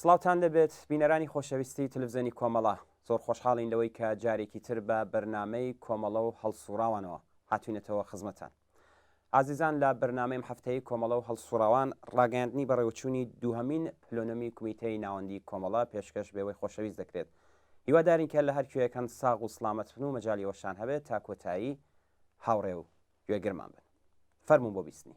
سڵاوتان لێبێت بینەرانی خۆشەویستی تلفزێنی کۆمەڵە، زۆر خۆشحاڵین لەوەی کە جارێکی تر بە بەرنامەی کۆمەڵە و هەڵسوڕاوانەوە هاتوینەتەوە خزمەتان. ئازیزان لە بەرنامەی م هەفتەیی کۆمەڵە و هەڵسوڕاوان ڕاگەیاندنی بەڕێوەچوونی دووهەمین پلونمی کومیتەی ناوەندی کۆمەڵە پێشکەش بێوەی خۆشەویست دەکرێت هیوادارین کە لە هەر کوێیەکەن ساغ و سڵامەت بن و مەجالی ئەوەشان هەبێت تا کۆتایی هاوڕێ و گوێگرمان بن. فەرموون بۆ بیستنی.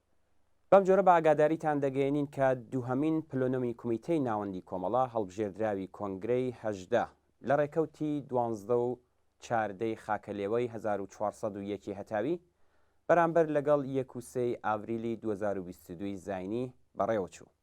بەم جۆرە بە ئاگاداریتان دەگەیەنین کە دووهەمین پلونومی کومیتەی ناوەندی کۆمەڵە هەڵبژێردراوی کۆنگرەی هەژدە لە ڕێکەوتی دوانزدە و چاردە ی خاکەلێوەی هەزار و چوار سەد و یەک ی هەتاوی بەرامبەر لەگەڵ یەک و سێ ی ئاڤریلی دوو هەزار و بیست و دوو ی زاینی بەڕێوەچوو.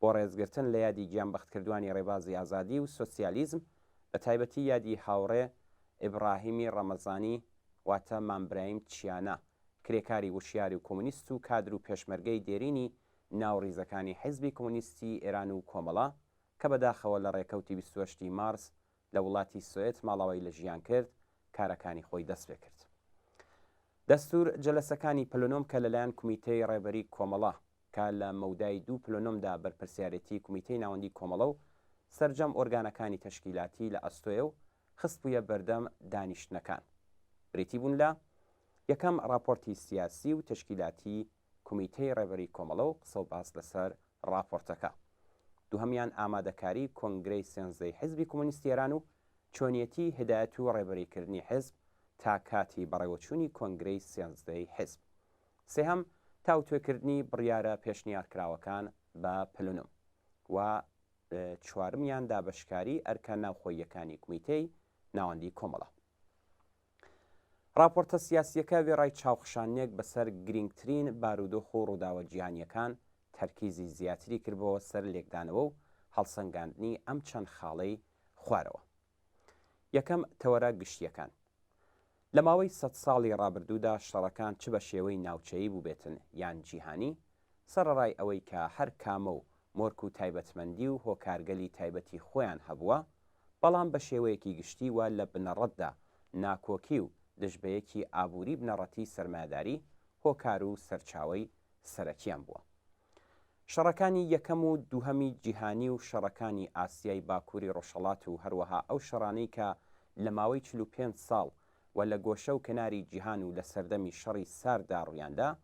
بۆ ڕێزگرتن لە یادی گیانبەختکردوانی ڕێبازی ئازادی و سۆسیالیزم، بەتایبەتی یادی هاوڕێ ئیبڕاهیمی ڕەمەزانی واتە مام برایم چیانا، کرێکاری وشیار و کۆمۆنیست و کادر و پێشمەرگەی دێرینی ناو ڕیزەکانی حیزبی کۆمۆنیستی ئێران و کۆمەڵە، کە بەداخەوە لە ڕێکەوتی بیست و هەشت ی مارس لە وڵاتی سوئێد ماڵاوایی لە ژیان کرد کارەکانی خۆی دەست پێ کرد. دەستور جەلەسەکانی پلنۆم کە لەلایەن کومیتەی ڕێبەری کۆمەڵە کە لە مەودای دوو پلنۆمدا بەرپرسیارێتی کومیتەی ناوەندی کۆمەڵە و سەرجەم ئۆرگانەکانی تەشکیلاتی لە ئەستۆیە و خستبوویە بەردەم دانیشتنەکان بریتی بوون لە یەکەم ڕاپۆرتی سیاسی و تەشکیلاتی کومیتەی ڕێبەری کۆمەڵە و قسە و باس لەسەر ڕاپۆرتەکە. دووهەمیان ئامادەکاری کۆنگرەی سێنزەی حیزبی کومونیستی ئێران و چۆنیەتی هیدایەت و ڕێبەریکردنی حیزب تا کاتی بەڕێوەچوونی کۆنگرەی سێنزدەی حیزب. سێهەم تاوتوێکردنی بڕیارە پێشنیارکراوەکان بە پلنوم. و چوارمیان دابەشکاری ئەرکە ناوخۆییەکانی کومیتەی ناوەندی کۆمەڵە. ڕاپۆرتە سیاسییەکە وێڕای چاوخشاندنێک بەسەر گرینگترین بارودۆخ و ڕووداوە جیهانییەکان، تەرکیزی زیاتری کردبووە سەر لێکدانەوە و هەڵسەنگاندنی ئەم چەند خاڵەی خوارەوە. یەکەم، تەوەرە گشتییەکان. لە ماوەی سەد ساڵی ڕابردوودا شەڕەکان چ بە شێوەی ناوچەیی بووبێتن یان جیهانی، سەڕەڕای ئەوەی کە هەر کامەو مۆرک و تایبەتمەندی و هۆکارگەلی تایبەتی خۆیان هەبووە، بەڵام بە شێوەیەکی گشتی و لە بنەڕەتدا ناکۆکی و دژبەیەکی ئابووری بنەڕەتی سەرمایەداری هۆکار و سەرچاوەی سەرەکییان بووە. شەڕەکانی یەکەم و دووهەمی جیهانی و شەڕەکانی ئاسیای باکووری ڕۆژهەڵات و هەروەها ئەو شەڕانەی کە لە ماوەی چل و پێنج ساڵ و لە گۆشە و کەناری جیهان و لە سەردەمی شەڕی سارددا ڕوویاندا،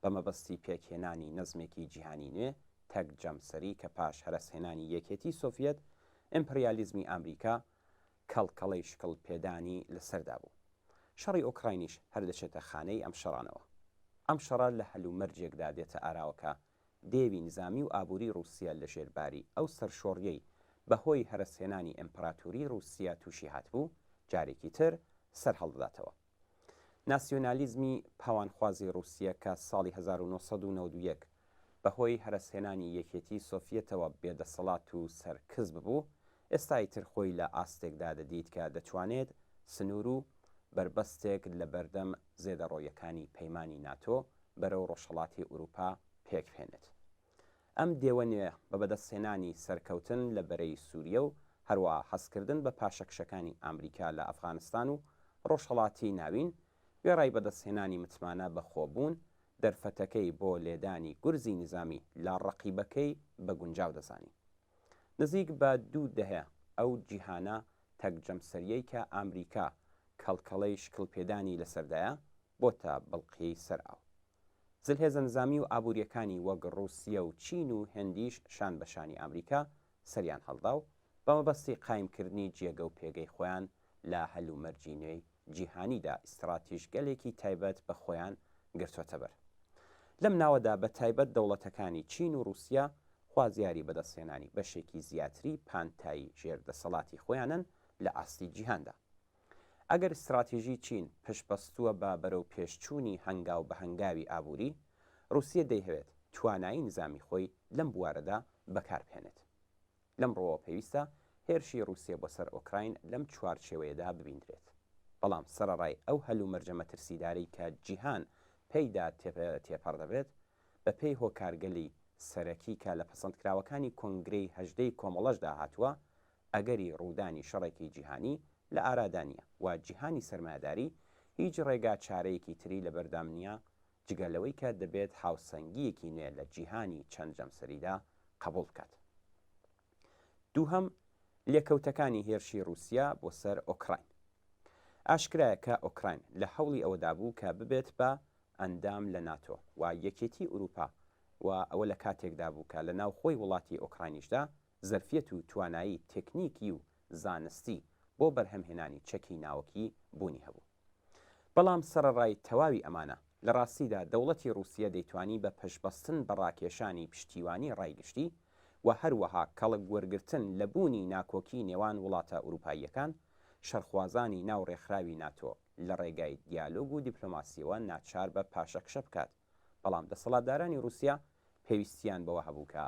بە مەبەستی پێکهێنانی نەزمێکی جیهانی نوێ، تەک جەمسەری کە پاش هەرەسهێنانی یەکێتی سۆڤیەت، ئیمپریالیزمی ئامریکا کەڵکەڵەی شکڵ پێدانی لە سەردا بوو. شەڕی ئۆکراینیش هەر دەچێتە خانەی ئەم شەڕانەوە. ئەم شەڕە لە هەلومەرجێکدا دێتە ئاراوە کە دێوی نزامی و ئابووری ڕووسیە لە ژێر باری ئەو سەرشۆڕیەی بە هۆی هەرەسهێنانی ئیمپراتوری ڕووسیە تووشی هاتبوو، جارێکی تر سەرهەڵدەداتەوە. ناسیۆنالیزمی پاوانخوازی ڕووسیە کە ساڵی هەزار و نۆ سەد و نەوەد و یەک بە هۆی هەرەسهێنانی یەکێتیی سۆفیەتەوە بێدەسەڵات و سەرکز ببوو، ئێستا ئیتر خۆی لە ئاستێکدا دەدیت کە دەتوانێت سنوور و بەربەستێک لە بەردەم زێدەڕۆییەکانی پەیمانی ناتۆ بەرەو ڕۆژهەڵاتی ئورووپا پێکبهێنێت. ئەم دێوە نوێیە بە بەدەستهێنانی سەرکەوتن لە بەرەی سووریە و هەروەها هەستکردن بە پاشەکشەکانی ئامریکا لە ئەفغانستان و ڕۆژهەڵاتی ناوین، وێڕای بەدەستهێنانی متمانە بە خۆبوون، دەرفەتەکەی بۆ لێدانی گورزی نیزامی لە ڕەقیبەکەی بە گونجاو دەزانی. نزیک بە دوو دەهەیە ئەو جیهانە تەک جەمسەرییەی کە ئامریکا کەڵکەڵەی شکڵپێدانی لەسەردایە، بۆتە بڵقیی سەر ئاو. زلهێزە نزامی و ئابوورییەکانی وەک ڕووسیە و چین و هندیش شان بە شانی ئامریکا سەریان هەڵدا و بە مەبەستی قایمکردنی جێگە و پێگەی خۆیان لە هەلومەرجی نوێی جیهانیدا ئیستڕاتیژگەلێکی تایبەت بە خۆیان گرتۆتەبەر. لەم ناوەدا بە تایبەت دەوڵەتەکانی چین و ڕووسیە خوازیاری بەدەستهێنانی بەشێکی زیاتری پانتایی ژێر دەسەڵاتی خۆیانن لە ئاستی جیهاندا. ئەگەر ستراتیژی چین پشتبەستووە بە بەرەوپێشچوونی هەنگاو بە هەنگاوی ئابووری، ڕووسیە دەیهەوێت توانایی نیزامی خۆی لەم بوارەدا بەکاربهێنێت. لەم ڕووەوە پێویستە هێرشی ڕووسیە بۆ سەر ئۆکراین لەم چوارچێوەیەدا ببیندرێت. بەڵام سەرەڕای ئەو هەلومەرجە مەترسیدارەی کە جیهان پێیدا تێپەڕ دەبێت، بەپێی هۆکارگەلی سەرەکی کە لە پەسەندکراوەکانی کۆنگرەی هەژدەی کۆمەڵەشدا هاتووە، ئەگەری ڕوودانی شەڕێکی جیهانی لە ئارادا نییە و جیهانی سەرمایەداری هیچ ڕێگا چارەیەکی تری لەبەردام نییە جگە لەوەی کە دەبێت هاوسەنگییەکی نوێ لە جیهانی چەند جەمسەریدا قەبووڵ بکات. دووهەم، لێکەوتەکانی هێرشی ڕووسیا بۆ سەر ئۆکراین. ئاشکرایە کە ئۆکراین لە هەوڵی ئەوەدا بوو کە ببێت بە ئەندام لە ناتۆ و یەکێتیی ئورووپا و ئەوە لە کاتێکدا بوو کە لە ناوخۆی وڵاتی ئۆکراینیشدا زەرفیەت و توانایی تێکنیکی و زانستی بۆ بەرهەمهێنانی چەکی ناوەکی بوونی هەبوو. بەڵام سەڕەڕای تەواوی ئەمانە، لە ڕاستیدا دەوڵەتی ڕووسیە دەیتوانی بە پشتبەستن بە ڕاکێشانی پشتیوانی ڕای گشتی و هەروەها کەڵک وەرگرتن لە بوونی ناکۆکی نێوان وڵاتە ئورووپاییەکان، شەڕخوازانی ناو ڕێکخراوی ناتۆ لە ڕێگای دیالۆگ و دیپلۆماسییەوە ناچار بە پاشەکشە بکات. بەڵام دەسەڵاتدارانی ڕووسیا پێویستییان بەوە هەبوو کە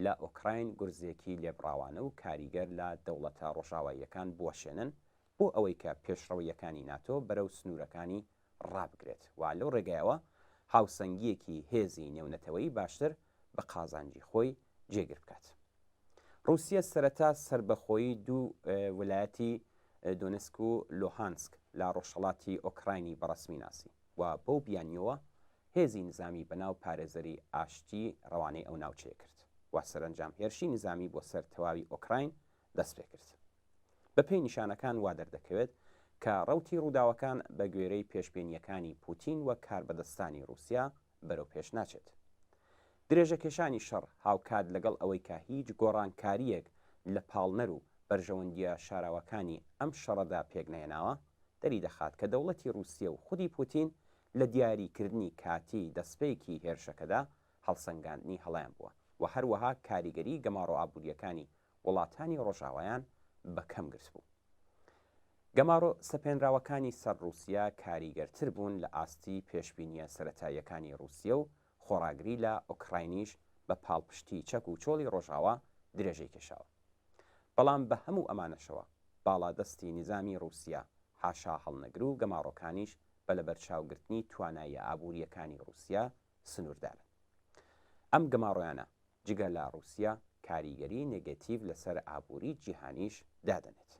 لە ئۆکراین گورزێکی لێبڕاوانە و کاریگەر لە دەوڵەتە ڕۆژاواییەکان بوەشێنن بۆ ئەوەی کە پێشڕەوییەکانی ناتۆ بەرەو سنوورەکانی ڕابگرێت و لەو ڕێگایەوە هاوسەنگییەکی هێزی نێونەتەوەی باشتر بە قازانجی خۆی جێگر بکات. ڕووسیە سەرەتا سەربەخۆیی دوو ولایەتی دۆنسک و لۆهانسک لە ڕۆژهەڵاتی ئۆکراینی بەڕەسمی ناسی و بەو بیانییەوە هێزی نزامی بەناو پارێزەری ئاشتی ڕەوانەی ئەو ناوچەیە کرد و سەرەنجام هێرشی نزامی بۆ سەر تەواوی ئۆکراین دەست پێ کرد. بە پێی نیشانەکان وا دەردەکەوێت کە ڕەوتی ڕووداوەکان بە گوێرەی پێشبینییەکانی پووتین و کاربەدەستانی ڕووسیا بەرەو پێش ناچێت. درێژەکێشانی شەڕ هاوکات لەگەڵ ئەوەی کە هیچ گۆڕانکارییەک لە پاڵنەر و بەرژەوەندییە شاراوەکانی ئەم شەڕەدا پێکنەهێناوە، دەریدەخات کە دەوڵەتی ڕووسیە و خودی پوتین لە دیاریکردنی کاتی دەستپێکی هێرشەکەدا هەڵسەنگاندنی هەڵەیان بووە و هەروەها کاریگەری گەماڕۆئابوورییەکانی وڵاتانی ڕۆژاوایان بە کەم گرتبوو. گەمارۆ سەپێنراوەکانی سەر ڕووسیە کاریگەرتر بوون لە ئاستی پێشبینییە سەرەتاییەکانی ڕووسیە و خۆڕاگری لە ئۆکراینیش بە پاڵپشتی چەک و چۆڵی ڕۆژاوا درێژەی کێشاوە. بەڵام بە هەموو ئەمانەشەوە باڵادەستی نیزامی ڕووسیە حاشاهەڵنەگر و گەماڕۆکانیش بە لەبەرچاوگرتنی تواناییە ئابوورییەکانی ڕووسیە سنووردارن. ئەم گەماڕۆیانە جگە لە ڕووسیا کاریگەری نێگەتیڤ لەسەر ئابووری جیهانیش دادەنێت.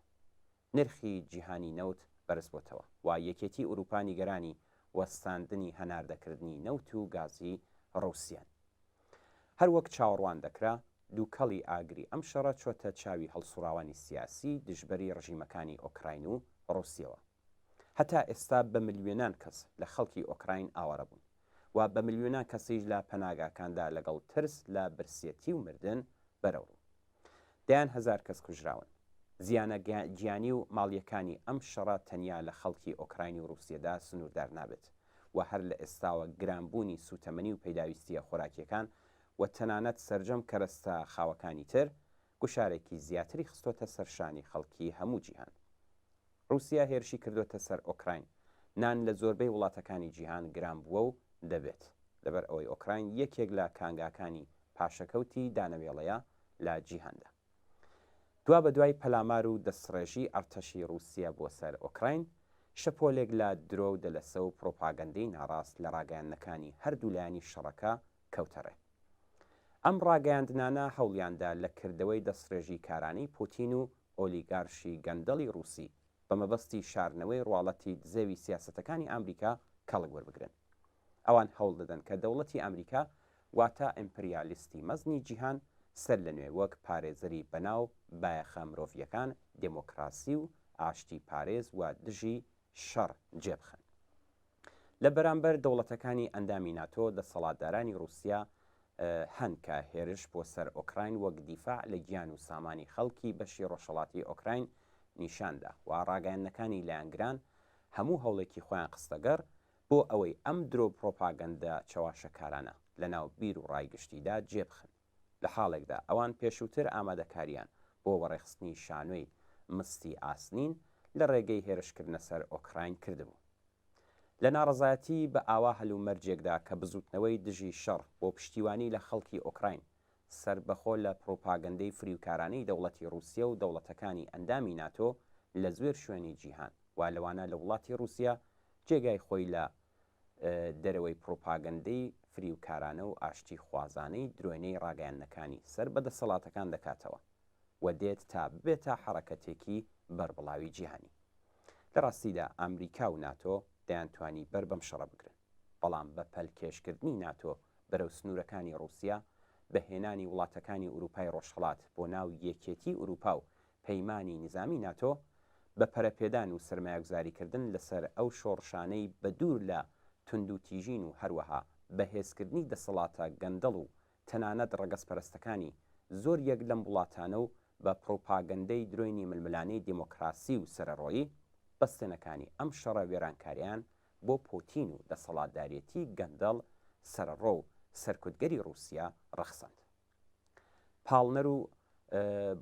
نرخی جیهانی نەوت بەرزبۆتەوە و یەکێتی ئورووپا نیگەرانی وەستاندنی هەناردەکردنی نەوت و گازی ڕووسیان. هەر وەک چاوەڕوان دەکرا، دووکەڵی ئاگری ئەم شەڕە چۆتە چاوی هەڵسوڕاوانی سیاسی دژبەری ڕژیمەکانی ئۆکراین و ڕووسیەوە. هەتا ئێستا بە ملیۆنان کەس لە خەڵکی ئۆکراین ئاوارە بوون و بە ملیۆنان کەسیش لە پەناگاکاندا لەگەڵ ترس لە برسیەتی و مردن بەرەوڕوون. دەیان هەزار کەس کوژراون. زیانە گیانی و ماڵییەکانی ئەم شەڕە تەنیا لە خەڵکی ئۆکراین و ڕووسیەدا سنووردار نابێت و هەر لە ئێستاوە گرانبوونی سووتەمەنی و پێداویستییە خۆراکییەکان و تەنانەت سەرجەم کەرەستە خاوەکانی تر گوشارێکی زیاتری خستۆتە سەر شانی خەڵکی هەموو جیهان. ڕووسیا هێرشی کردۆتە سەر ئۆکراین، نان لە زۆربەی وڵاتەکانی جیهان گران بووە و دەبێت، لەبەر ئەوەی ئۆکراین یەکێک لە کانگاکانی پاشەکەوتی دانەوێڵەیە لە جیهاندا. دوابەدوای پەلامار و دەستڕێژی ئەڕتەشی ڕووسیە بۆ سەر ئۆکراین، شەپۆلێک لە درۆ و دەلەسە و پڕۆپاگەندەی ناڕاست لە ڕاگەیاندنەکانی هەردوو لایەنی شەڕەکە کەوتە ڕێ. ئەم ڕاگەیاندنانە هەوڵیاندا لە کردەوەی دەستڕێژیکارانەی پوتین و ئۆلیگارشی گەندەڵی ڕووسی بە مەبەستی شارنەوەی ڕواڵەتی دزێوی سیاسەتەکانی ئامریکا کەڵک وەربگرن. ئەوان هەوڵ دەدەن کە دەوڵەتی ئامریکا واتە ئیمپریالیستی مەزنی جیهان سەر لە نوێ وەک پارێزەری بەناو بایەخە مرۆڤییەکان، دێمۆکڕاسی و ئاشتی پارێز و دژی شەڕ جێ بخەن. لە بەرامبەر دەوڵەتەکانی ئەندامی ناتۆ، دەسەڵاتدارانی ڕووسیا هەن کە هێرش بۆ سەر ئۆکراین وەک دیفاع لە گیان و سامانی خەڵکی بەشی ڕۆژهەڵاتی ئۆکراین نیشان دا و ڕاگەیاندنەکانی لایەنگران هەموو هەوڵێکی خۆیان خستەگەڕ بۆ ئەوەی ئەم درۆ و پڕۆپاگەندە چەواشەکارانە لەناو بیر و ڕای گشتیدا جێبخن. لە حاڵێکدا ئەوان پێشووتر ئامادەکارییان بۆ وەڕێخستنی شانۆی مستی ئاسنین لە ڕێگەی هێرشکردنە سەر ئۆکراین کردبوو. لە ناڕەزایەتی بە ئاوا هەلومەرجێکدا کە بزووتنەوەی دژی شەڕ بۆ پشتیوانی لە خەڵکی ئۆکراین سەربەخۆ لە پڕوپاگەندەی فریوکارانەی دەوڵەتی ڕووسیە و دەوڵەتەکانی ئەندامی ناتۆ لە زوێر شوێنی جیهان وا لەوانە لە وڵاتی ڕووسیە جێگای خۆی لە دەرەوەی پڕوپاگەندەی فریوکارانە و ئاشتی خوازانەی درۆینەی ڕاگەیاندنەکانی سەر بە دەسەڵاتەکان دەکاتەوە و دێت تا ببێتە حەڕەکەتێکی بەربڵاوی جیهانی. لە ڕاستیدا ئامریکا و ناتۆ دەیانتوانی بەر بەم شەڕە بگرن، بەڵام بە پەلکێشکردنی ناتۆ بەرەو سنوورەکانی ڕووسیا، بە هێنانی وڵاتەکانی ئورووپای ڕۆژهەڵات بۆ ناو یەکێتی ئورووپا و پەیمانی نیزامی ناتۆ بە پەرەپێدان و سەرمایەگوزاریکردن لەسەر ئەو شۆڕشانەی بە دوور لە توندوتیژین و هەروەها بەهێزکردنی دەسەڵاتە گەندەڵ و تەنانەت ڕەگەزپەرستەکانی زۆریەک لەم وڵاتانە و بە پڕوپاگەندەی درۆینی ململانێی دێمۆکڕاسی و سەرەڕۆیی بەستێنەکانی ئەم شەڕە وێرانکاریان بۆ پۆتین و دەسەڵاتدارێتی گەندەڵ سەرەڕۆ و سەرکوتگەری ڕووسیا ڕەخساند. پاڵنەر و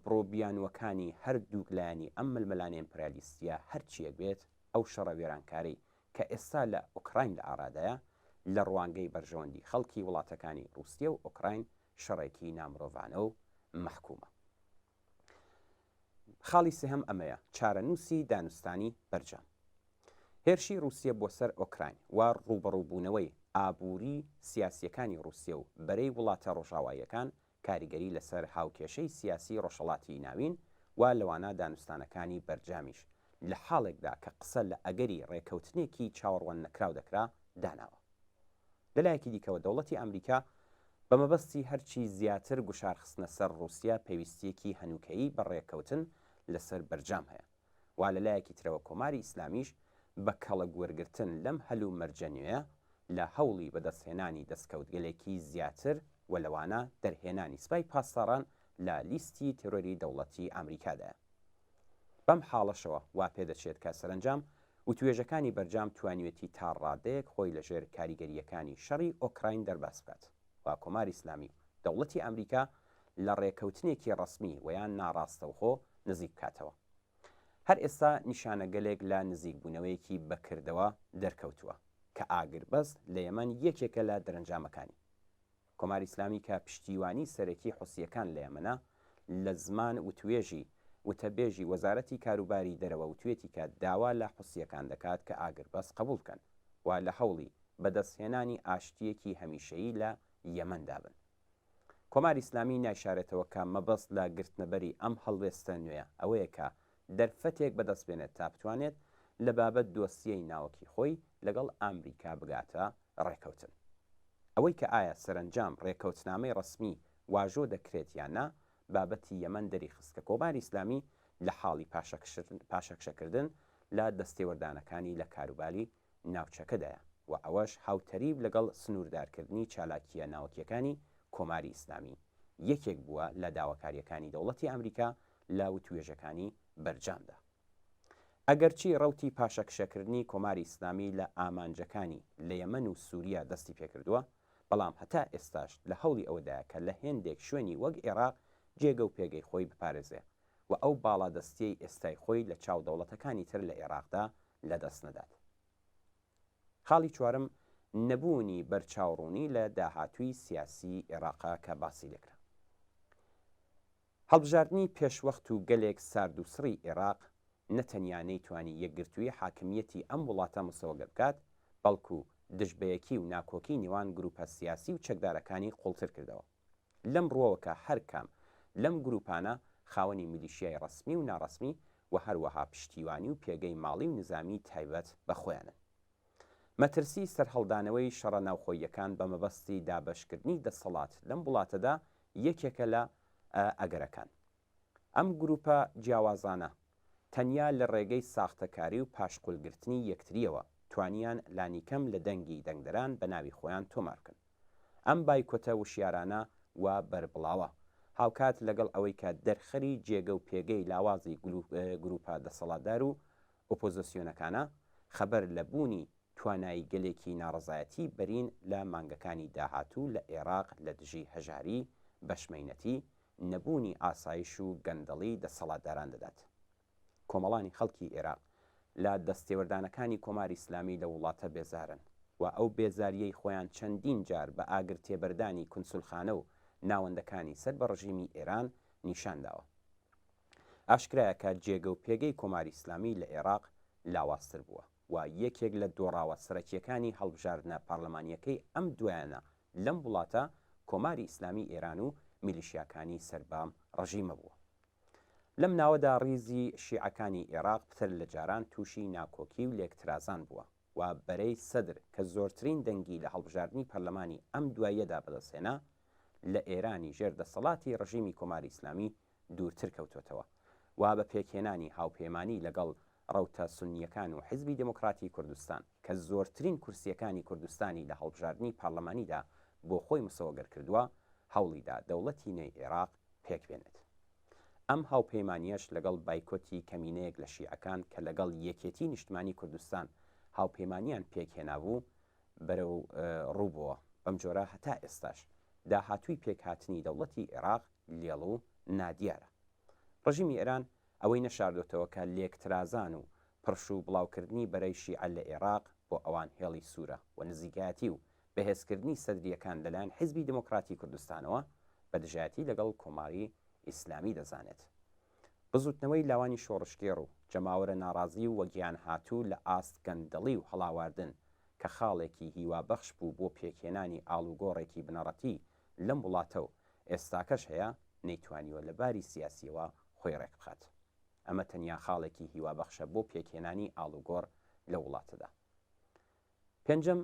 بڕو بیانووەکانی هەردووک لایەنی ئەم ململانێ ئیمپریالیستییە هەرچییەک بێت، ئەو شەڕە وێرانکارەی کە ئێستا لە ئۆکراین لە ئارادایە، لە ڕوانگەی بەرژەوەندی خەڵکی وڵاتەکانی ڕووسیە و ئۆکراین شەڕێکی نامرۆڤانە و مەحکومە. خاڵی سێهەم ئەمەیە، چارەنووسی دانوستانی بەرجام. هێرشی ڕووسیە بۆ سەر ئۆکراین و ڕووبەڕووبوونەوەی ئابووری سیاسییەکانی ڕووسیە و بەرەی وڵاتە ڕۆژاواییەکان کاریگەری لەسەر هاوکێشەی سیاسی ڕۆژهەڵاتی ناوین و لەوانە دانوستانەکانی بەرجامیش لە حاڵێکدا کە قسە لە ئەگەری ڕێکەوتنێکی چاوەڕواننەکراو دەکرا، داناوە. لەلایەکی دیکەوە دەوڵەتی ئامریکا بە مەبەستی هەرچی زیاتر گوشارخستنە سەر ڕووسیا پێویستییەکی هەنووکەیی بە ڕێککەوتن لەسەر بەرجام هەیە و لەلایەکی ترەوە کۆماری ئیسلامیش بە کەڵک وەرگرتن لەم هەلومەرجە نوێیە لە هەوڵی بەدەستهێنانی دەستکەوتگەلێکی زیاتر و لەوانە دەرهێنانی سپای پاسداران لە لیستی تێرۆری دەوڵەتی ئامریکادایە. بەم حاڵەشەوە وا پێدەچێت کە سەرەنجام وتوێژەکانی بەرجام توانیوێتی تا ڕادەیەک خۆی لە ژێر کاریگەرییەکانی شەڕی ئۆکراین دەرباز بکات و کۆماری ئیسلامی و دەوڵەتی ئامریکا لە ڕێکەوتنێکی ڕەسمی وەیان ناڕاستەوخۆ نزیک بکاتەوە. هەر ئێستا نیشانەگەلێک لە نزیکبوونەوەیەکی بە کردەوە دەرکەوتووە کە ئاگربەست لە یەمەن یەکێکە لە دەرەنجامەکانی. کۆماری ئیسلامی کە پشتیوانی سەرەکی حوسییەکان لە یەمەنە، لە زمان وتوێژی وتەبێژی وەزارەتی کاروباری دەرەوە وتوێتی کە داوا لە حوسییەکان دەکات کە ئاگربەس قبوڵ بکەن و لە هەوڵی بەدەستهێنانی ئاشتییەکی هەمیشەیی لە یەمەندا بن. کۆماری ئیسلامی نایشارێتەوە کە مەبەست لە گرتنەبەری ئەم هەڵوێستە نوێیە ئەوەیە کە دەرفەتێک بەدەست بێنێت تا بتوانێت لە بابەت دۆسیەی ناوەکی خۆی لەگەڵ ئامریکا بگاتە ڕێکەوتن. ئەوەی کە ئایا سەرەنجام ڕێکەوتنامەی ڕەسمی واژۆ دەکرێت یان نا، بابەتی یەمەن دەریخست کە کۆماری ئیسلامی لە حاڵی پاشەکشەکردن لە دەستێوەردانەکانی لە کاروباری ناوچەکەدایە و ئەوەش هاوتەریب لەگەڵ سنووردارکردنی چالاکییە ناوەکییەکانی کۆماری ئیسلامی، یەکێک بووە لە داواکارییەکانی دەوڵەتی ئامریکا لە وتووێژەکانی بەرجامدا. ئەگەرچی ڕەوتی پاشەکشەکردنی کۆماری ئیسلامی لە ئامانجەکانی لە یەمەن و سووریا دەستی پێکردووە، بەڵام هەتا ئێستاش لە هەوڵی ئەوەدایە کە لە هێندێک شوێنی وەک ئێراق جێگە و پێگەی خۆی بپارێزێ و ئەو باڵادەستییەی ئێستای خۆی لە چاو دەوڵەتەکانی تر لە ئێراقدا لەدەست نەدات. خاڵی چوارەم نەبوونی بەرچاوڕوونی لە داهاتووی سیاسی ئێڕاقە کە باسی لێکرا. هەڵبژاردنی پێشوەخت و گەلێک سارد و سڕی ئێڕاق نە تەنیا نەیتوانی یەکگرتووی حاکمییەتی ئەم وڵاتە مسۆگە بکات، بەڵکوو دژبەیەکی و ناکۆکی نێوان گرووپە سیاسی و چەکدارەکانی قووڵتر کردەوە. لەم ڕووەوە کە هەر کام لەم گرووپانە خاوەنی میلیشیای ڕەسمی و ناڕەسمی و هەروەها پشتیوانی و پێگەی ماڵی و نیزامیی تایبەت بە خۆیانن. مەترسیی سەرهەڵدانەوەی شەڕە ناوخۆییەکان بە مەبەستی دابەشکردنی دەسەڵات لەم وڵاتەدا یەکێکە لە ئەگەرەکان. ئەم گروپە جیاوازانە تەنیا لە ڕێگەی ساختەکاری و پاشقولگرتنی یەکترییەوە توانیان لانیکەم لە دەنگی دەنگدەران بە ناوی خۆیان تۆمار بکەن. ئەم بایکۆتە وشیارانە و بەربڵاوە، هاوکات لەگەڵ ئەوەی کە دەرخەری جێگە و پێگەی لاوازی گروپە دەسەڵاتدار و ئۆپۆزسیۆنەکانە، خەبەر لە بوونی تواناییگەلێکی ناڕەزایەتی بەرین لە مانگەکانی داهاتوو لە ئێراق لە دژی هەژاری، بەشمەینەتی، نەبوونی ئاسایش و گەندەڵی دەسەڵاتداران دەدات. کۆمەڵانی خەڵکی ئێراق لە دەستێوەردانەکانی کۆماری ئیسلامی لەو وڵاتە بێزارن و ئەو بێزارییەی خۆیان چەندین جار بە ئاگرتێبەردانی کونسولخانە و ناوەندەکانی سەر بە ڕژیمی ئێران نیشان داوە. ئاشکرایە کە جێگە و پێگەی کۆماری ئیسلامی لە ئێراق لاوازتر بووە. و یەکێک لە دۆڕاوە سەرەکییەکانی هەڵبژاردنە پارلەمانییەکەی ئەم دوایانە لەم وڵاتە کۆماری ئیسلامی ئێران و میلیشیاکانی سەر بە ڕژیمە بووە. لەم ناوەدا ڕیزی شیعەکانی ئێراق پتر لە جاران تووشی ناکۆکی و لێکترازان بووە و بەرەی سەدر کە زۆرترین دەنگی لە هەڵبژاردنی پەرلەمانی ئەم دواییەدا بەدەستهێنا لە ئێرانی ژێر دەسەڵاتی ڕژیمی کۆماری ئیسلامی دوورتر کەوتۆتەوە و بە پێکهێنانی هاوپەیمانی لەگەڵ ڕەوتە سوننییەکان و حیزبی دێموکراتی کوردستان کە زۆرترین کورسییەکانی کوردستانی لە هەڵبژاردنی پارلەمانیدا بۆ خۆی مسۆگەر کردووە، هەوڵی دا دەوڵەتی نوێی عێراق پێک بێنێت. ئەم هاوپەیمانییەش لەگەڵ بایکۆتی کەمینەیەک لە شیعەکان کە لەگەڵ یەکێتیی نیشتمانیی کوردستان هاوپەیمانییان پێک هێنابوو، بەرەو ڕوو بووە. بەم جۆرە هەتا ئێستاش داهاتووی پێکهاتنی دەوڵەتی عێراق، لێڵ و نادیارە. ڕژیمی ئێران ئەوەی نەشاردۆتەوە کە لێکترازان و پڕش و بڵاوکردنی بەرەی شیعە لە ئێراق بۆ ئەوان هێڵی سوورە و نزیکایەتی و بەهێزکردنی سەدرییەکان لەلایەن حیزبی دێمۆکڕاتی کوردستانەوە بە دژایەتی لەگەڵ کۆماری ئیسلامی دەزانێت. بزووتنەوەی لاوانی شۆڕشگێڕ و جەماوەرە ناڕازی و وەگیانهاتوو لە ئاست گەندەڵی و هەڵاواردن کە خاڵێکی هیوابەخش بوو بۆ پێکهێنانی ئاڵوگۆڕێکی بنەڕەتیی لەم وڵاتە و ئێستاکەش هەیە نەیتوانیوە لە باری سیاسییەوە خۆی ڕێکبخات. ئەمە تەنیا خاڵێکی هیوابەخشە بۆ پێکهێنانی ئاڵوگۆڕ لەو وڵاتەدا. پێنجەم،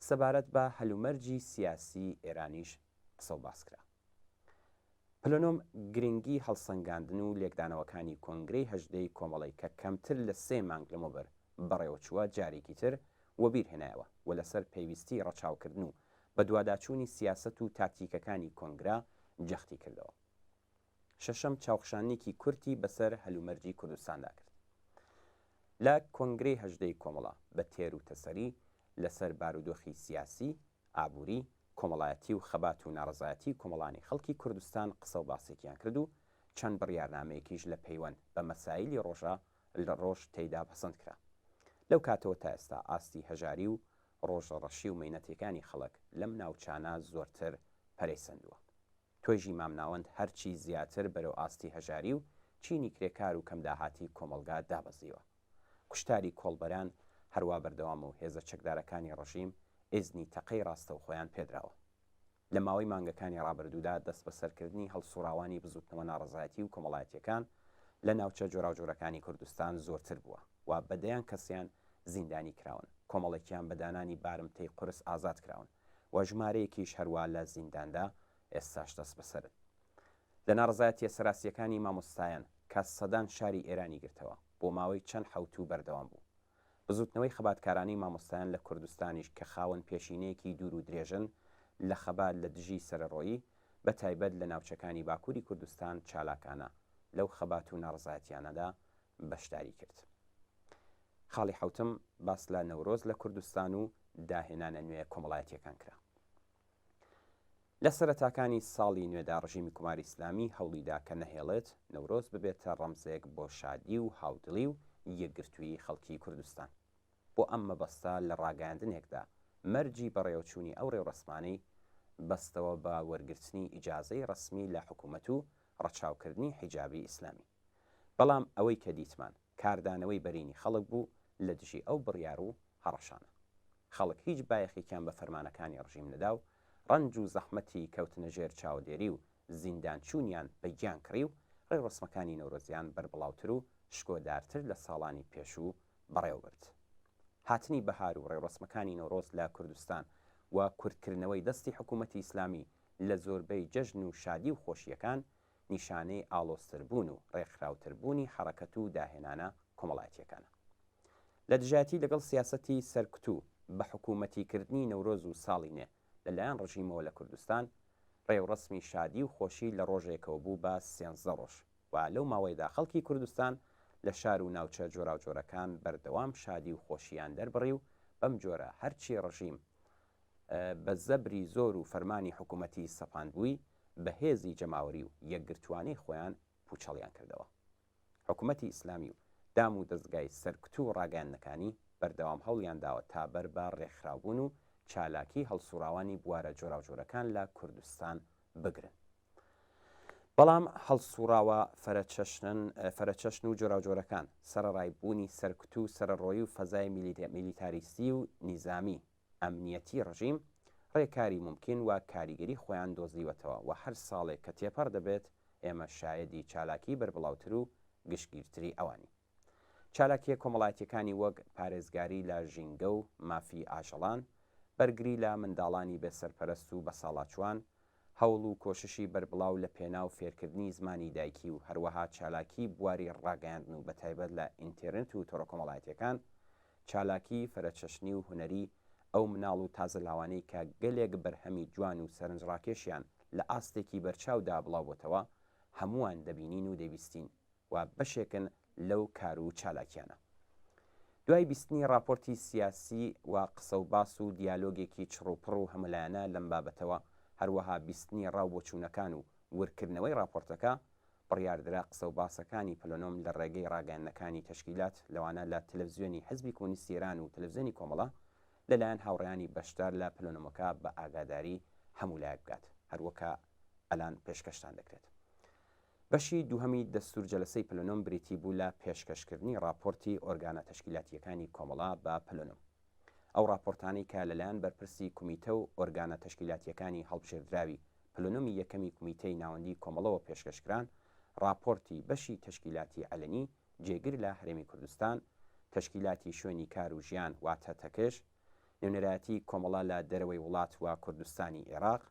سەبارەت بە هەلومەرجی سیاسیی ئێرانیش قسە و باس کرا. پلنۆم گرنگی هەڵسەنگاندن و لێکدانەوەکانی کۆنگرەی هەژدەی کۆمەڵەی کە کەمتر لە سێ مانگ لەمەوبەر بەڕێوەچووە جارێکی تر وەبیر هێنایەوە و لەسەر پێویستیی ڕەچاوکردن و بەدواداچوونی سیاسەت و تاکتیکەکانی کۆنگرە جەختی کردەوە. شەشەم، چاوخشاننیکی کورتی بەسەر هەلومەرجی کوردستاندا کرد. لە کۆنگرەی هەژدەی کۆمەڵە بە تێر و تەسەلی لەسەر بارودۆخی سیاسی، ئابووری، کۆمەڵایەتی و خەبات و ناڕەزایەتی کۆمەڵانی خەڵکی کوردستان قسە و باسێکیان کرد و چەند بڕیارنامەیەکیش لە پەیوەند بە مەسایلی ڕۆژە ڕۆژ تێیدا پەسەند کرا. لەو کاتەوە تا ئێستا ئاستی هەژاری و ڕۆژە ڕەشی و مەینەتیکانی خەڵک لەم ناوچانە زۆرتر پەرەی سەندووە. توێژی مامناوەند هەرچی زیاتر بەرەو ئاستی هەژاری و چینی کرێکار و کەمداهاتی کۆمەڵگا دابەزیوە. کوشتاری کۆڵبەران هەروا بەردەوامە و هێزە چەکدارەکانی ڕژیم ئیزنی تەقەی ڕاستەوخۆیان پێدراوە. لە ماوەی مانگەکانی ڕابردوودا دەستبەسەرکردنی هەڵسوڕاوانی بزووتنەوە ناڕەزایەتی و کۆمەڵایەتییەکان لە ناوچە جۆراوجۆرەکانی کوردستان زۆرتر بووە و بە دەیان کەسیان زیندانی کراون، کۆمەڵێکیان بە دانانی بارمتەی قورس ئازاد کراون و ژمارەیەکیش هەروا لە زینداندا ئێستاش دەستبەسەرن. لە ناڕەزایەتییە سەراسییەکانی مامۆستایان کە سەدان شاری ئێرانی گرتەوە، بۆ ماوەی چەند حەوتوو بەردەوام بوو، بزوتنەوەی خەباتکارانی مامۆستایان لە کوردستانیش کە خاوەن پێشینەیەکی دوور و درێژن لە خەبات لە دژی سەرەڕۆیی، بە تایبەت لە ناوچەکانی باکوری کوردستان چالاکانە لەو خەبات و ناڕەزایەتیانەدا بەشداری کرد. خاڵی حەوتم، باس لە نەورۆز لە کوردستان و داهێنانە نوێ کۆمەڵایەتیەکان کرا. لە سەرەتاکانی ساڵی نوێدا ڕژیمی کوماری ئیسلامی هەوڵیدا کە نەهێڵێت نەورۆز ببێتە ڕەمزێک بۆ شادی و هاودڵی و یەکگرتوویی خەڵکی کوردستان. بۆ ئەم مەبەستە لە ڕاگەیاندنێکدا مەرجی بەڕێوەچوونی ئەو ڕێوڕەسمانەی بەستەوە بە وەرگرتنی ئیجازەی ڕەسمی لە حکوومەت و ڕەچاوکردنی حیجابی ئیسلامی. بەڵام ئەوەی کە دیتمان. کاردانەوەی بەرینی خەڵک بوو لە دژی ئەو بڕیار و هەڕەشانە. خەڵک هیچ بایەخێکیان بە فەرمانەکانی ڕژیم نەدا و ڕەنج و زەحمەتی کەوتنە ژێر چاودێری و زیندانچوونیان بە گیان کڕی و ڕێوڕەسمەکانی نەورۆزیان بەربڵاوتر و شکۆدارتر لە ساڵانی پێشوو بەڕێوە برد. هاتنی بەهار و ڕێوڕەسمەکانی نەورۆز لە کوردستان و کورتکردنەوەی دەستی حکوومەتی ئیسلامی لە زۆربەی جەژن و شادی و خۆشییەکان، نیشانەی ئاڵۆزتربوون و ڕێکخراوتربوونی حەڕەکەت و داهێنانە کۆمەڵایەتییەکانە. لە دژایەتی لەگەڵ سیاسەتی سەرکوت و بە حکوومەتیکردنی نەورۆز و ساڵی نێ لە لایەن ڕژیمەوە لە کوردستان، ڕێوڕەسمی شادی و خۆشی لە ڕۆژێکەوە بوو بە سێنزدە ڕۆژ و لەو ماوەیەدا خەڵکی کوردستان لە شار و ناوچە جۆراوجۆرەکان بەردەوام شادی و خۆشییان دەربڕی و بەم جۆرە هەرچی ڕژیم بە زەبری زۆر و فەرمانی حکوومەتی سەپاندبووی، بە هێزی جەماوەری و یەکگرتووانەی خۆیان پووچەڵیان کردەوە. حکوومەتی ئیسلامی و دام و دەزگای سەرکوت و ڕاگەیاندنەکانی بەردەوام هەوڵیان داوە تا بەر بە ڕێکخراوبوون و چالاکیی هەڵسووڕاوانی بوارە جۆراوجۆرەکان لە کوردستان بگرن، بەڵام هەڵسووڕاوە فرەچەشنن فرەچەشن و جۆراوجۆرەکان، سەرەڕای بوونی سەرکوت و سەرەڕۆیی و فەزای میلیتاریستی و نیزامی، ئەمنیەتی ڕژیم ڕێکاری مومکین و کاریگەری خۆیان دۆزیوەتەوە و هەر ساڵێک کە تێپەڕ دەبێت ئێمە شایەدی چالاکی بەربڵاوتر و گشتگیرتری ئەوانین. چالاکیە کۆمەڵایەتیەکانی وەک پارێزگاری لە ژینگە و مافی ئاژەڵان، بەرگری لە منداڵانی بێ سەرپەرەست و بەساڵاچوان، هەوڵ و کۆششی بەربڵاو لە پێناو فێرکردنی زمانی دایکی و هەروەها چالاکی بواری ڕاگەیاندن و بەتایبەت لە ئینتێرنت و تۆڕەکۆمەڵایەتیەکان چالاکی فرەچەشنی و هونەری ئەو مناڵ و تازە لاوانەی کە گەلێک بەرهەمی جوان و سەرنجڕاکێشیان لە ئاستێکی بەرچاودا بڵاوبۆتەوە هەمووان دەبینین و دەیبیستین و بەشێکن لەو کار و چالاکیانە. دوای بیستنی ڕاپۆرتی سیاسی و قسە و باس و دیالۆگێکی چڕ و پڕ و هەمەلایەنە لەم بابەتەوە، هەروەها بیستنی ڕا و بۆچوونەکان و ورکردنەوەی ڕاپۆرتەکە، بڕیاردرا قسە و باسەکانی پلنۆم لە ڕێگەی ڕاگەیاندنەکانی تەشکیلات لەوانە لە تەلەفزیۆنی حزبی کۆمۆنیستی ئێران و تەلەفزیۆنی کۆمەڵە لە لایەن هاوڕێیانی بەشدار لە پلنۆمەکە بە ئاگاداری هەموو لایەک بگات هەروەکە ئەلان پێشکەشتان دەکرێت. بەشی دووهەمی دەستوور جەلەسەی پلنۆم بریتی بوو لە پێشکەشکردنی ڕاپۆرتی ئۆرگانە تەشکیلاتییەکانی کۆمەڵە بە پلنۆم. ئەو ڕاپۆرتانەی کە لەلایەن بەرپرسی کومیتە و ئۆرگانە تەشکیلاتییەکانی هەڵبژێردراوی پلنۆمی یەکەمی کومیتەی ناوەندیی کۆمەڵەوە پێشکەش کران، ڕاپۆرتی بەشی تەشکیلاتی عەلەنی جێگر لە هەرێمی کوردستان، تەشکیلاتی شوێنی کار و ژیان واتە تەکژ، نوێنەرایەتی کۆمەڵە لە دەرەوەی وڵات و کوردستانی ئێراق،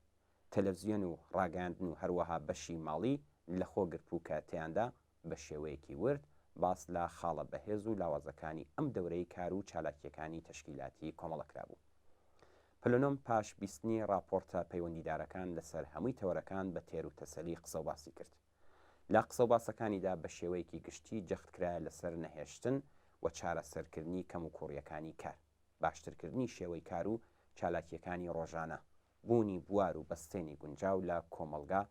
تەلەفزیۆن و ڕاگەیاندن و هەروەها بەشی ماڵی لەخۆ گرتبوو کە تێیاندا بە شێوەیەکی ورد باس لە خاڵە بەهێز و لاوازەکانی ئەم دەورەی کار و چالاکییەکانی تەشکیلاتیی کۆمەڵە کرابوو. پلنۆم پاش بیستنی ڕاپۆڕتە پەیوەندیدارەکان لەسەر هەمووی تەوەرەکان بە تێر و تەسەلی قسەوباسی کرد. لە قسەوباسەکانیدا بە شێوەیەکی گشتی جەخت کرایە لەسەر نەهێشتن و چارەسەرکردنی کەموکووڕییەکانی کار، باشترکردنی شێوەی کار و چالاکییەکانی ڕۆژانە، بوونی بوار و بەستێنی گونجاو لە کۆمەڵگا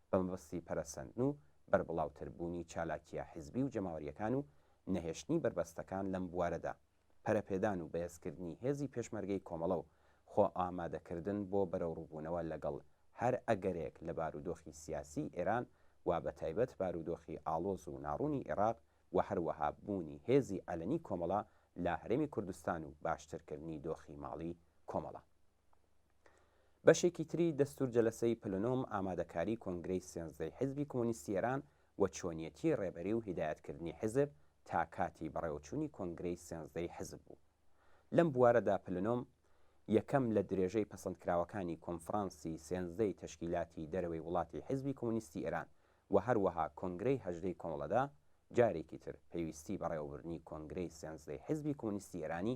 بە مەبەستی پەرەسەندن و بەربڵاوتر بوونی چالاکییە حزبی و جەماوەرییەکان و نەهێشتنی بەربەستەکان لەم بوارەدا، پەرەپێدان و بەهێزکردنی هێزی پێشمەرگەی کۆمەڵە و خۆئامادەکردن بۆ بەرەوڕووبوونەوە لەگەڵ هەر ئەگەرێک لە بارودۆخی سیاسیی ئێران و بەتایبەت بارودۆخی ئاڵۆز و ناڕوونی ئێراق و هەروەها بوونی هێزی عەلەنی کۆمەڵە لە هەرێمی کوردستان و باشترکردنی دۆخی ماڵی کۆمەڵە. بەشێکی تری دەستور جەلەسەی پلە نۆم ئامادەکاری کۆنگرەی سێنزدەی حیزبی کۆمۆنیستی ئێران و چۆنیەتی ڕێبەری و هیدایەت کردنی حیزب تا کاتی بەڕێوەچونی کۆنگرەی سێنزدەی حیزب بوو لەم بوارەدا پلە نۆم یەکەم لە درێژەی پەسەندکراوەکانی کۆنفڕانسی سێنزدەی تەشکیلاتی دەرەوەی وڵاتی حیزبی کۆمۆنیستی ئێران و هەروەها کۆنگرەی هەژدەی کۆمەڵەدا جارێکی تر پێویستی بەڕێوەبردنی کۆنگرەی سێنزدەی حیزبی کۆمۆنیستی ئێرانی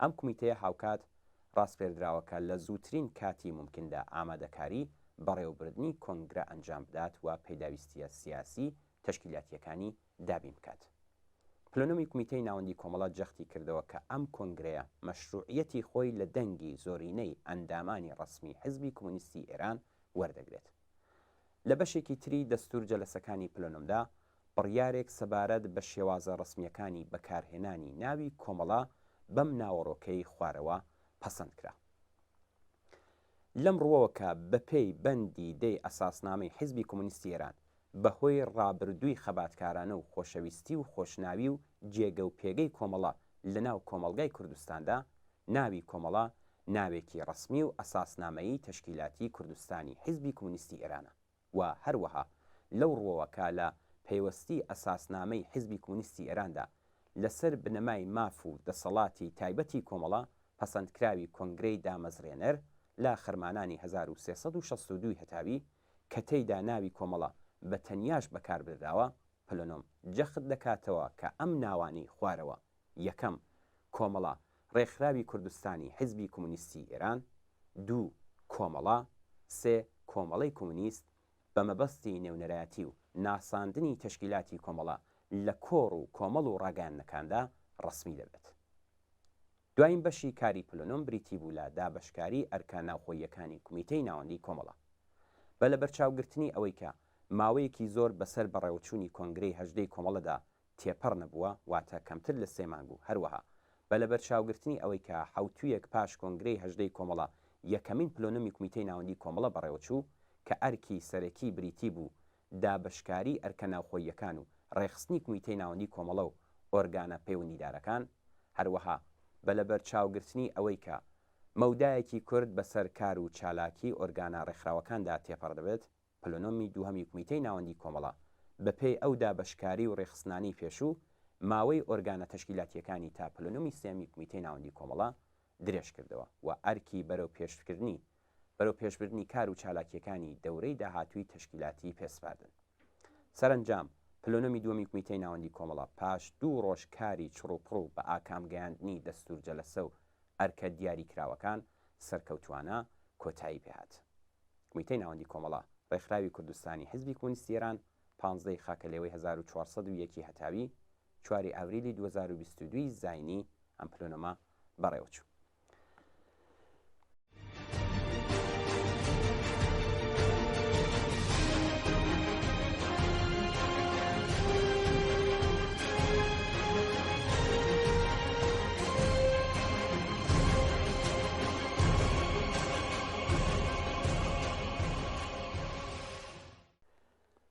ئەم کومیتەیە هاوکات ڕاسپێردراوەکە لە زووترین کاتی مومکندا ئامادەکاری بەڕێوەبردنی کۆنگرە ئەنجام بدات و پێداویستییە سیاسی تەشکیلاتییەکانی دابین بکات. پلنومی کومیتەی ناوەندی کۆمەڵە جەختی کردەوە کە ئەم کۆنگرەیە مەشروعییەتی خۆی لە دەنگی زۆرینەی ئەندامانی ڕەسمی حزبی کۆمۆنیستی ئێران وەردەگرێت. لە بەشێکی تری دەستوور جەلەسەکانی پلەنۆمدا، بڕیارێک سەبارەت بە شێوازە ڕەسمییەکانی بەکارهێنانی ناوی کۆمەڵە بەم ناوەڕۆکەی خوارەوە پەسەند کرا. لەم ڕووەوە کە بەپێی بەندی دەی ئەساسنامەی حیزبی کۆمۆنیستی ئێران بە هۆی ڕابردووی خەباتکارانە و خۆشەویستی و خۆشناوی و جێگە و پێگەی کۆمەڵە لە ناو کۆمەڵگای کوردستاندا ناوی کۆمەڵە ناوێکی ڕەسمی و ئەساسنامەیی تەشکیلاتی کوردستانی حیزبی کومونیستی ئێرانە و هەروەها لەو ڕووەوە کە لە پەیوەستی ئەساسنامەی حیزبی کومونیستی ئێراندا لەسەر بنەمای ماف و دەسەڵاتی تایبەتی کۆمەڵە پەسەندکراوی کۆنگرەی دامەزرێنەر لە خەرمانانی هەزار و سێ سەد و شەست و دوو ی هەتاوی کە تێیدا ناوی کۆمەڵە بە تەنیاش بەکاربردراوە، پلنم جەخت دەکاتەوە کە ئەم ناوانەی خوارەوە یەکەم، کۆمەڵە، ڕێکخراوی کوردستانی حیزبی کۆمۆنیستی ئێران، دوو، کۆمەڵە، سێ، کۆمەڵەی کۆمۆنیست، بە مەبەستی نێونەرایەتی و ناساندنی تەشکیلاتی کۆمەڵە لە کۆڕ و کۆمەڵ و ڕاگەیاندنەکاندا ڕەسمی دەبێت. دواین بەشی کاری پلونۆم بریتی بوو لە دابەشکاری ئەرکە ناوخۆییەکانی کومیتەی ناوەندی کۆمەڵە. بە لەبەرچاوگرتنی ئەوەی کە ماوەیەکی زۆر بەسەر بەڕێوەچوونی کۆنگرەی هەژدەی کۆمەڵەدا تێپەڕ نەبووە، واتە کەمتر لە سێ مانگ و هەروەها بە لەبەرچاوگرتنی ئەوەی کە حەوتوویەک پاش کۆنگرەی هەژدەی کۆمەڵە یەکەمین پلۆنۆمی کومیتەی ناوەندی کۆمەڵە بەڕێوەچوو کە ئەرکی سەرەکی بریتی بوو دابەشکاری ئەرکە ناوخۆییەکان و ڕێکخستنی کومیتەی ناوەندی کۆمەڵە و ئۆرگانە پەیوەندیدارەکان هەروەها بە لەبەرچاوگرتنی ئەوەی کە مەودایەکی کورت بەسەر کار و چالاکی ئۆرگانە ڕێکخراوەکاندا تێپەڕ دەبێت. پلنۆمی دووهەمی کومیتەی ناوەندی کۆمەڵە، بەپێی ئەو دابەشکاری و رێکخستنانەی پێشوو، ماوەی ئۆرگانە تەشکیلاتییەکانی تا پلنۆمی سێیەمی کومیتەی ناوەندی کۆمەڵە درێژکردەوە و ئەرکی بەرەوپێشتکردنی بەرەوپێشبردنی کار و چالاکییەکانی دەورەی داهاتووی تەشکیلاتی پێسپاردن. سەرەنجام، پلنۆمی دووەمی کومیتەی ناوەندی کۆمەڵە پاش دوو رۆژ کاری چڕوپڕ و بەئاکام گەیاندنی دەستوورجەلەسە و ئەرکە دیاریکراوەکان سەرکەوتووانە کۆتایی پێهات. کومیتەی ناوەندی کۆمەڵە ڕێکخراوی کوردستانی حزبی کۆمۆنیستی ئێران پانزدە ی خاکەلێوەی هەزار و چوار سەد و یەک ی هەتاوی چوار ی ئاوریلی دوو هەزار و بیست و دوو ی زاینی ئەم پلونەمە بەڕێوەچوو.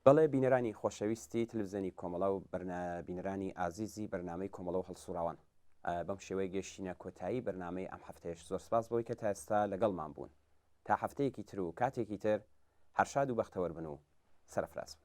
بەڵێ بینەرانی خۆشەویستی تلوزیۆنی کۆمەڵە و بینەرانی ئازیزی بەرنمەی کۆمەڵە و هەڵسوڕاوان بەم شێوەیە گەشتینە کۆتایی بەرنمەی ئەم هەفتەیەش زۆر سپاس بۆی کە تا ئێستا لەگەڵمان بوون تا هەفتەیەکی تر و کاتێکی تر هەرشاد و بەختەوەربن و سەرفراز بن